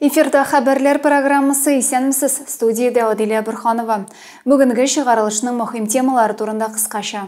Эфирда хәбәрләр программасы исәнмесез, студиядә Адилә Бөрханова. Бүгенге чыгарылышның мөһим темалары турында кыскача.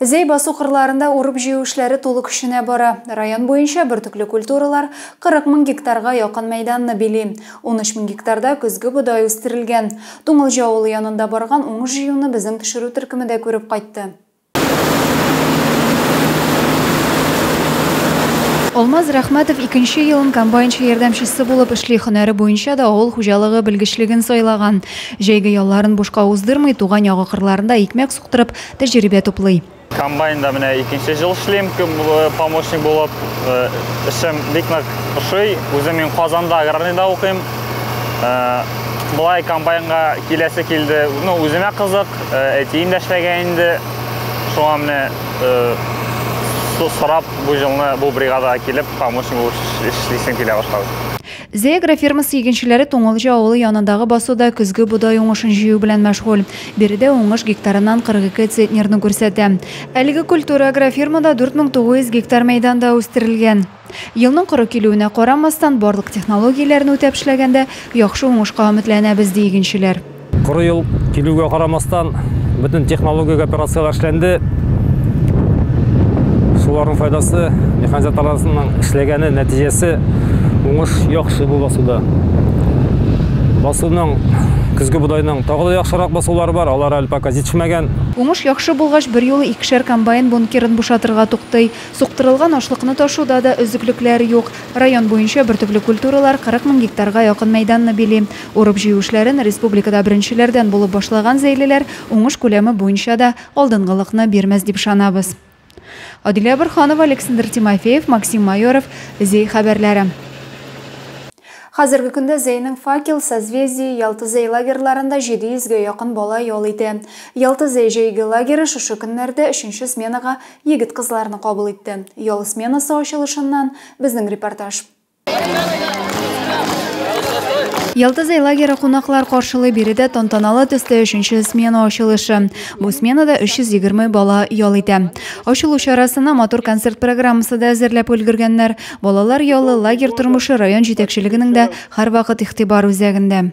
Зәй басу кырларында урып-җыю эшләре тулы көченә бара. Район буенча бөртекле культуралар 40 мең гектарга якын мәйданны били. Унөч мең гектарда көзге бодай үстерелгән. Туңылҗы авылы янында барган уңыш җыюны безнең төшерү төркеме дә күреп кайтты. Алмаз Рәхмәтов икенче елын комбайнчы ярдәмчесе булып эшли, һөнәре буенча да авыл хуҗалыгы белгечлеген сайлаган. Җәйге ялларын бушка уздырмый, туган ягы кырларында икмәк торып тәҗрибә туплый. Комбайнда менә икенче ел эшлим, э, помощник булып. Э, эшем бик нык ошый. Үзем мин Казанда аграрныйда укыйм. Э, Былай комбайнга киләсе килде. Ну, үземә кызык, әтием дә эшләгән инде. Шуңа менә сорап бу җылны бу бригадага килеп, помощник булып эшлисем килә башлады. Зеагра фермасы игенчеләре Туңылҗы авылы янындагы басуда көзге бодай уңышын җыю белән мәшгуль. Биредә уңыш гектарыннан 42 центнерны күрсәтә. Әлеге культура агрофирмада 4900 гектар мәйданда үстерелгән. Елның коры килүенә карамастан, барлык технологияләрне үтәп эшләгәндә, яхшы уңышка өметләнәбез, ди игенчеләр. Коры ел килүгә карамастан, бөтен технологик операцияләр эшләнде. Шуларның файдасы, механизаторларның эшләгәне нәтиҗәсе уңыш яхшы бу басуда. Басуның көзге бодайның тагы да яхшырак басулары бар, алар әле пока җитешмәгән. Уңыш яхшы булгач, берьюлы икешәр комбайн бункерын бушатырга туктый. Суктырылган ашлыкны ташуда да өзеклекләр юк. Район буенча бөртекле культуралар 40 мең гектарга якын мәйданны били. Урып-җыю эшләрен республикада беренчеләрдән булып башлаган зәйлеләр уңыш күләме буенча да алдынгылыкны бирмәс дип ышанабыз. Адилә Борһанова, Алексндр Тимофеев, Максим Майоров, Зәй хәбәрләре. Хәзерге көндә Зәйнең Факел, Созвездие, Ялты Зәй лагерьларында 700 гә якын бала ял итә. Ялты Зәй җәйге лагере шушы көннәрдә өченче сменага егет-кызларны кабул итте. Ял сменасы ачылышыннан безнең репортаж. Ялтызай лагеры кунаклар каршылый биредә тантаналы төстә өченче смена ачылышы. Бу сменада 320 бала ял итә. Ачылу чарасына матур концерт программасы да әзерләп өлгергәннәр. Балалар ялы, лагерь тормышы район җитәкчелегенең дә һәрвакыт игътибар үзәгендә.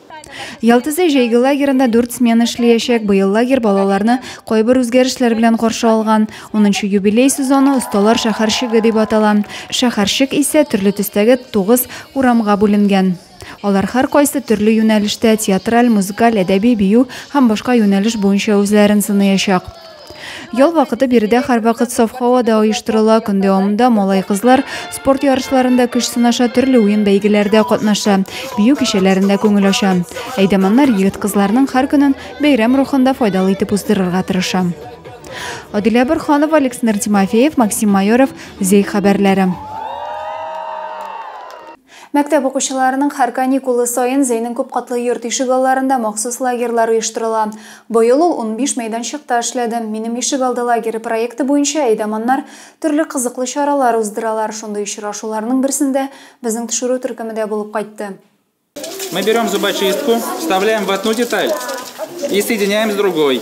Ялтызы җәйге лагерында дүрт смена эшләячәк. Быел лагерь балаларны кайбер үзгәрешләр белән каршы алган. Унынчы юбилей сезоны осталар шәһәрчеге дип атала. Шәһәрчек исә төрле төстәге тугыз урамга бүленгән. Алар һәркайсы төрле юнәлештә, театраль, музыкаль, әдәби, бию һәм башка юнәлеш буенча үзләрен сыныячак. Ял вакыты биредә һәрвакыт саф һавада оештырыла. Көн дәвамында малай-кызлар спорт ярышларында көч сынаша, төрле уен бәйгеләрдә катнаша, бию кичәләрендә күңел ача. Әйдәманнар егет-кызларның һәр көнен бәйрәм рухында файдалы итеп уздырырга тырыша. Адилә Борханова, Александр Тимофеев, Максим Майоров, Зей хәбәрләре. Мәктәп укучыларының һәр каникулы саен Зәйнең күпкатлы йорт ишегалларында махсус лагерьлар оештырыла. Быел ул унбиш мәйданчыкта эшләде. Минем ишегалды лагере проекты буенча әйдаманнар төрле кызыклы чаралар уздыралар, шундый очрашуларның берсендә безнең төшерү төркеме дә булып кайтты. Мы берем зубочистку, вставляем в одну деталь и соединяем с другой.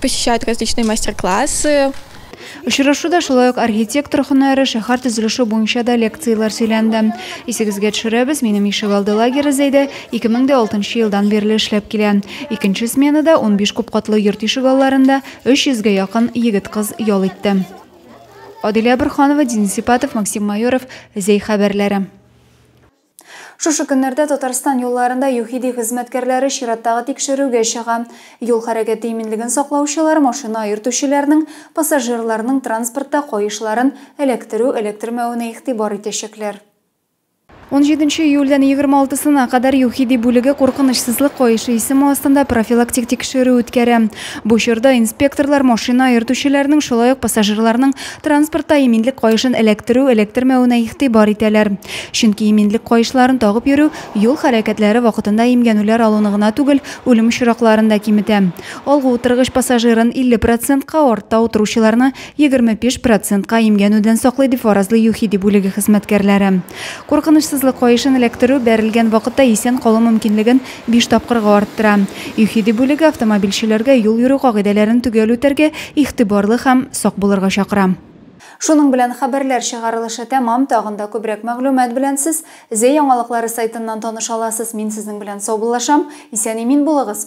посещают различные мастер-классы. Очрашуда шулай ук архитектор һөнәре, шәһәр төзелеше буенча да лекцияләр сөйләнде. Исегезгә төшерәбез, минем ишегалды лагере Зәйдә 2006 елдан бирле эшләп килә. Икенче сменада 15 купкатлы йорт ишегалларында 300 гә якын егет-кыз ял итте. Адилә Бурханова, Денис Сипатов, Максим Майоров, Зәй хәбәрләре. Шушы көннәрдә Татарстан юлларында ЮХИДИ хезмәткәрләре чираттагы тикшерүгә чыга. Юл хәрәкәте иминлеген саклаучылар машина йөртүчеләрнең, пассажирларның транспортта каешларын эләктерү-эләктермәвенә игътибар итәчәкләр. Унҗиденче июльдән егерме алтысына кадәр ЮХИДИ бүлеге куркынычсызлык каешы исеме астында профилактик тикшерү үткәрә. Бу чорда инспекторлар машина йөртүчеләрнең, шулай ук пассажирларның Транспортта иминлек каешын эләктерү, эләктермәвенә игътибар итәләр. Чөнки иминлек каешларын тагып йөрү юл хәрәкәтләре вакытында имгәнүләр алуны гына түгел, үлем очракларын да киметә. Алгы утыргыч пассажирын 50 процентка, артта утыручыларны 25 процентка имгәнүдән саклый, дип фаразлый ЮХИДИ бүлеге хезмәткәрләре. Куркынычсызлык каешын эләктерү бәрелгән вакытта исән калу мөмкинлеген биш тапкырга арттыра. ЮХИДИ бүлеге автомобильчеләргә юл йөрү кагыйдәләрен төгәл үтәргә, игътибарлы һәм сак булырга чакыра. Шуның белән хәбәрләр чыгарылышы тәмам, тагын да күбрәк мәгълүмат белән сез Зе яңалыклары сайтыннан таныша аласыз. Мин сезнең белән саубуллашам. Исән-имин булыгыз!